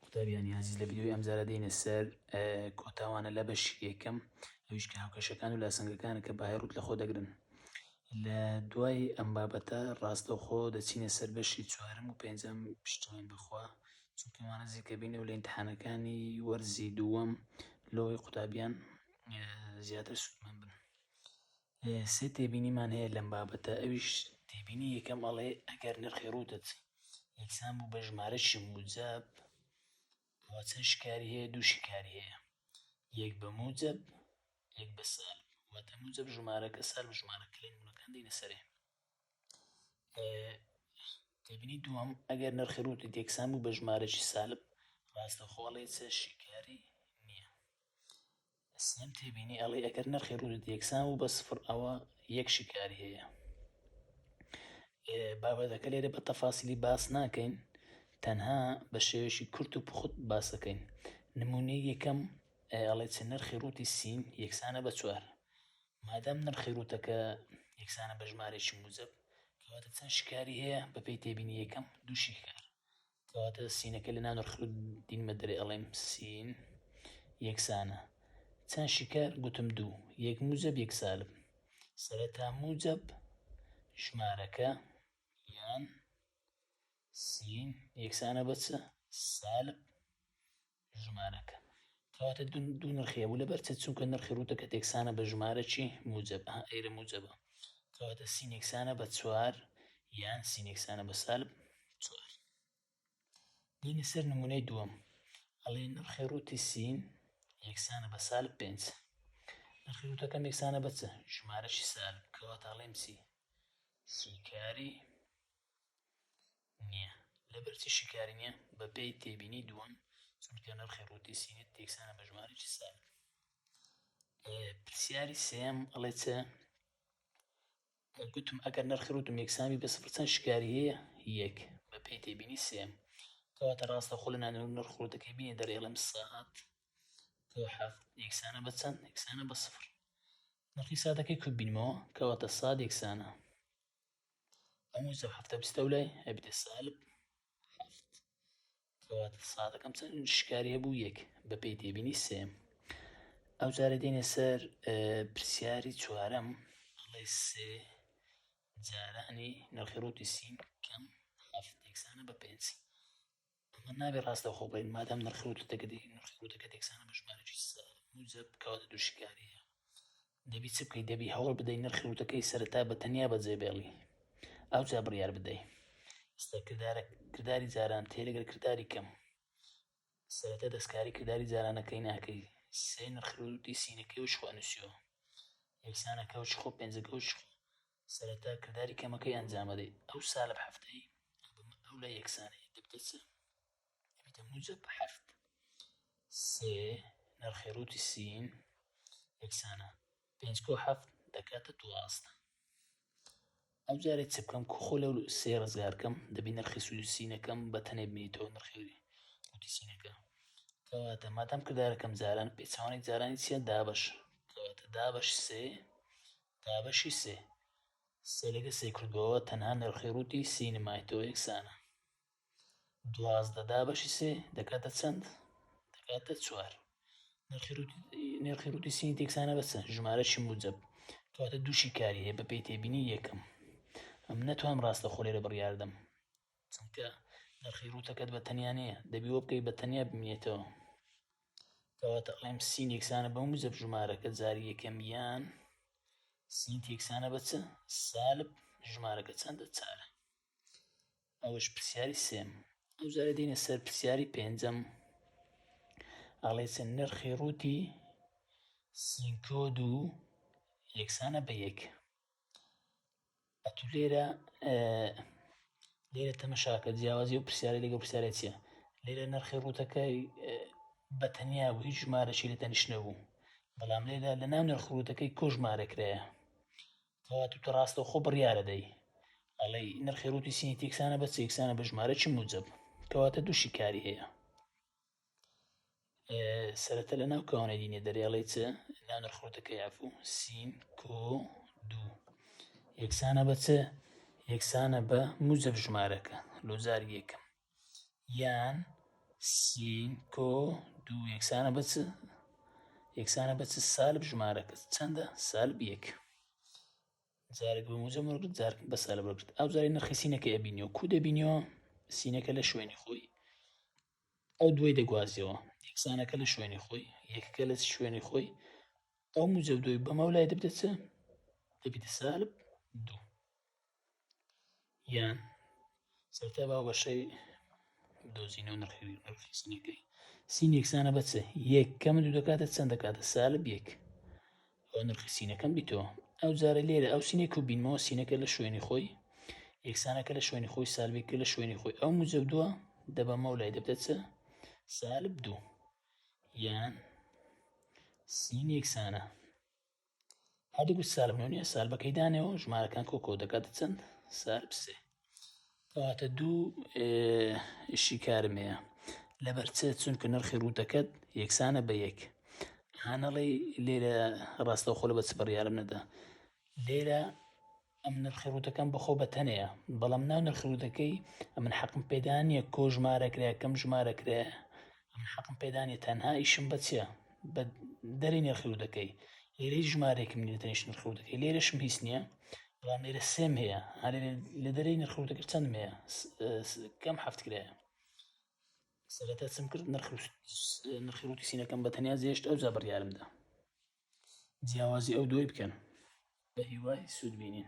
قوتابیان نیازیز لە ڤیدیۆی ئەمجارە دێینە سەر کۆتاوانە لە بەشی یەکەم ئەویش کە هاوکەشەکان و لاسەنگەکانە کە بەهای ڕوت لەخۆ دەگرن لە دوای ئەم بابەتە ڕاستەوخۆ دەچینە سەر بەشی چوارم و پێنجەم پشتوان بخوا چونکەوانە زیکەبینە و لە امتحانەکانی وەرزی دووەم لەوەی قوتابیان زیاتر سوودمەند بن سێ تێبینیمان هەیە لەم بابەتە ئەویش تێبینی یەکەم ئەڵێ ئەگەر نرخی ڕووتت یەکسان بوو بە ژمارەشی موجەب ئەوە چەند شکاری هەیە دوو شکاری هەیە یەک بە موجەب یەک بە سال واتە موجەب ژمارەکە سال ژمارە کلین بوونەکان دینە سەرێ تێبینی دووەم ئەگەر نرخی ڕووتی یەکسان بوو بە ژمارەشی سالب ڕاستەخۆڵێ چە شکاری سام تێبینی ئەڵێ ئەگەر نرخی ڕووت یەکسان و بە سفر ئەوە یەک شیکاری هەیە بابەتەکە لێرە بە تەفاسیلی باس ناکەین تەنها بە شێوێکی کورت و پخت باسەکەین نمونی یەکەم ئەڵێ چ نرخی ڕووتی سین یەکسانە بە چوار مادەم نرخی ڕووتەکە یەکسانە بە ژمارێکی موزب کەواتە چەند شکاری هەیە بەپی تێبینی یەکەم دوو شیکار کەواتە سینەکە لە ناو ڕ دین بە درێ ئەڵێم سین یەکسانە چەند شکار گوتم دوو یەک موجب یەک سالب سەرەتا موجب ژمارەکە یان سین یەکسانە بەچە سالب ژمارەکە کەواتە دوو نرخی هەبوو لەبەر چ چونکە نرخی ڕووتە کە تێکسانە بە ژمارە چی موجب ئەیرە موجبە کەواتە سینێکسانە بە چوار یان سینێکسانە بە سالب چوار دینە سەر نمونەی دووەم ئەڵێ نرخی ڕووتی سین یەکسانە بە سالب پێنج نرخی ڕوتەکەم یەکسانە بە چ ژمارەشی سالب کەواتە ئەڵێم چی سیکاری نییە لەبەرچی شیکاری نییە؟ بەپێی تێبینی دووەم چونکە نرخی ڕووتی سینت تێکسانە بە ژمارەی سال پرسیاری سێم ئەڵێ چ گوتم ئەگەر نرخی ڕووتم یەکسانی بە سفر چەند شکاری هەیە یەک بە پێی تێبینی سێم کەواتە ڕاستە خۆ لە نانەوە نرخ ڕووتەکەی بینێ دەرێڵم ساعت یەکسانە بە چەند یەکسانە بە سفر نرخی سادەکەی کوبینمەوە کەواتە ساد یەکسانە ئەم وزە هەفتە بستە و لای ئەبدە سالب هەفت کەواتە سادەکەم چەند شکاری هەبوو یەک بە پێی تێبینی سێم ئەو جارە دێنێ سەر پرسیاری چوارەم ئەڵێ سێ جارانی نرخی ڕوتی سیم کەم هەفت یەکسانە بە پێنج ئەمە نابێ ڕاستەوخۆ بڵێین مادام نرخی وتوتەکەدی نرخی وتەکەت یەکسانە بە ژمارەی موجب کەواتە دوو شیکارییە دەبی چ بکەیت دەبی هەوڵ بدەی نرخی وتەکەی سەرەتا بە تەنیا بەجێبێڵی ئەوجا بڕیار بدەی ئێستا کردارە کرداری جاران تێ لەگەر کرداری کەم سەرەتا دەستکاری کرداری جارانەکەی ناکەی سێ نرخی وتی سینەکەی و شخوانوسیەوە یەکسانەکە و شخۆ پێنجەکە و شخۆ سەرەتا کرداری کەمەکەی ئەنجامەدەیت ئەو سا لەب هەفتەی ئەڵبومە ئەو لای یەکسانەیە دەبتە چ دەبیتە موجە بە هەفت سێ نرخی ڕووتی سین یەکسانە پێنج کۆ هەفت دەکاتە دوازدە ئەو جارێ چ بکەم کوخۆ لەو سێ ڕزگارکەم دەبی نرخی سوودی سینەکەم بە تەنێ بینیتەوە نرخی ڕووتی سینەکە کەواتە مادەم کردارەکەم جاران پێچوانێک جارانی چیە دابش کەواتە دابش سێ دابەشی سێ سەرەکە سێ کردەوە تەنها نرخی ڕووتی سینمای تۆ یەکسانە دوازدە دابەشی سێ دەکاتە چەند دەکاتە چوار نرخی ڕووتی سینی تێکسانە بەسە ژمارەشی موجب کاتە دووشی کاری هەیە بە پێی تێبینی یەکەم ئەم نەتوان ڕاستە خۆ لێرە بڕیاردەم چونکە نرخی ڕوتەکەت بە تەنیا نییە دەبی وە بکەی بە تەنیا بمێتەوە کەواتە ئەڵێم سی نێکسانە بە موزب ژمارەکە جاری یەکەم یان سی تێکسانە بە چ سالب ژمارەکە چەندە چارە ئەوش پرسیاری سێم ئەو جارە دینە سەر پرسیاری پێنجەم ئەڵێ چەند نرخی ڕووتی سینکۆد و یەکسانە بە یەک ئەتو لێرە لێرە تەمەشاکە جیاوازی و پرسیارە لەگە پرسیارە چیە لێرە نرخی ڕوتەکەی بە تەنیا بوو هیچ ژمارەشی لە تەنیش نەبوو بەڵام لێدا لە ناو نرخروتەکەی کۆژمارەکرایە کەوا تو ڕاستە خۆ بڕیاە دەی ئەڵی نرخی ڕوتی سینی تێکسانە بە سێکسانە بە ژمارە چی موجب کەواتە دوو شیکاری هەیە سەرەتا لە ناو کەوانەی دینێ دەرێڵی چ ناو نرخۆتەکەی عفو سین کۆ دوو یەکسانە بە چ یەکسانە بە موزەف ژمارەکە لۆزار یەکەم یان سین کۆ دوو یەکسانە بە چ یەکسانە بە چ سالب ژمارەکە چەندە سالب یەک جارێک بە موزە مرگت جارک بە سالب بگرت ئەو جاری نرخی سینەکە ئەبینیەوە کو دەبینیەوە سینەکە لە شوێنی خۆی ئەو دوای دەگوازیەوە یەکسانەکە لە شوێنی خۆی یەکەکە لە شوێنی خۆی ئەو موجب دوی بەمەو لای دەبدە چ دەبیتە سالب دوو یان سەرتا با بەشەی دۆزینەوە نرخی نرخی سینەکەی سین یەکسانە بەچە یەک کەمە دوو دەکاتە چەند دەکاتە سالب یەک ئەوە نرخی سینەکەم بیتۆ ئەو جارە لێرە ئەو سینێک و بینمەوە سینەکە لە شوێنی خۆی یەکسانەکە لە شوێنی خۆی سالبێکە لە شوێنی خۆی ئەو مجە دووە دەبەمە و لای دەبدەچ سالب دوو یان سین یەکسانە هەردوو سالبنەوەنیە سالبەکەی دانەوە ژمارەکان کۆکۆ دەکات چەند سالب سێ کەواتە دوو شیکارم هەیە لەبەر چ چونکە نرخی ڕووتەکەت یەکسانە بە یەک هانەڵی لێرە ڕاستە خۆل بە چ بڕیارم نەدا لێرە ئەم نرخی ڕووتەکەم بەخۆ بە تەنەیە بەڵام ناو نرخی ڕووتەکەی ئەمن حەقم پێدانە کۆژمارەکرا کەم ژمارەکرێ من حەقم پێدا نیە تەنها ئیشم بە چیە بە دەری نرخی و دەکەی لێرەی ژمارێکم نیە تەنیش نرخی و دەکەی لێرەشم هیچ نییە بەڵام لێرە سێم هەیە هەێ لە دەری نرخ و دەکرد چەند هەیە کەم حەفت کرایە سەرەتا چم کرد نرخی ڕوتی سینەکەم بە تەنیا زیێشت ئەو جا بڕیارمدا جیاوازی ئەو دوای بکەن بە هیوای سوود بینین